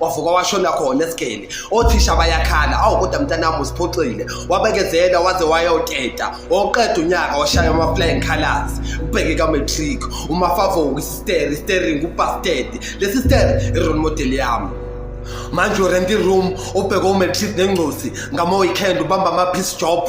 wavuka washona khona esigeni othisha bayakhala awu kodwa mntanami usiphoxile wabekezela waze wayoteta woqeda unyaka washaya ama-flying colors ubheke ka-matric umafavoku isisteri istering upastedi lesi steri i-role model yami manje urent i-room ubheke umatric nengcosi ngama-weekend ubamba ama-peace job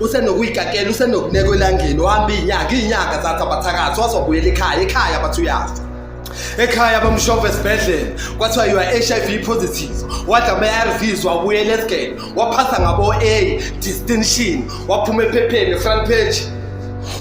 usenokuyikakela usenokuneka elangeni uhamba iy'nyanga iy'nyanga zathi abathakathi wazobuyela ekhaya ekhaya bathi uyafa ekhaya bamshova esibhedlela kwathiwa you are h i v positive wadla ama-arvs wabuyela esgele waphasa ngabo-a distinction waphuma ephepheni efront page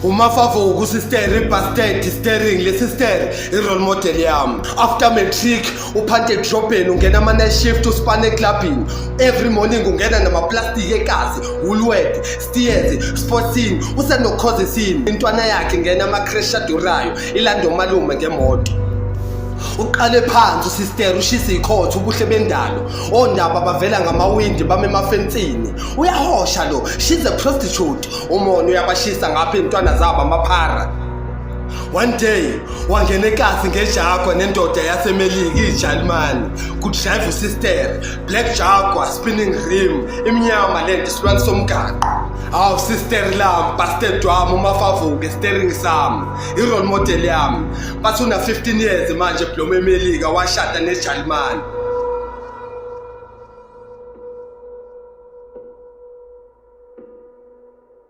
umafavo ukusisteri ibasted istering le sisteri i-role model yami after matric uphanthe edrobheni ungena ama-night shift usipane eclubhini every morning ungena namaplastiki ekazi woolwed stiyenzi sportsini usenokhozisini intwana yakhe ngena ama-crash adurayo ilande umalume ngemoto uqale phansi usister ushisa ikhotha ubuhle bendalo ondaba bavela ngamawindi bame emafensini uyahosha lo she's a prostitute umona uyabashisa ngapha iy'ntwana zabo amaphara One day wangena eklasi ngeJaguar nendoda yaseMelika iJalimane kudrive usister black Jaguar spinning rim imnyama lento isilwane somgaqo awu sister lam bastard wami umafavuke steering sami i-role model yami bathi una 15 years manje bloma eMelika washada neJalimane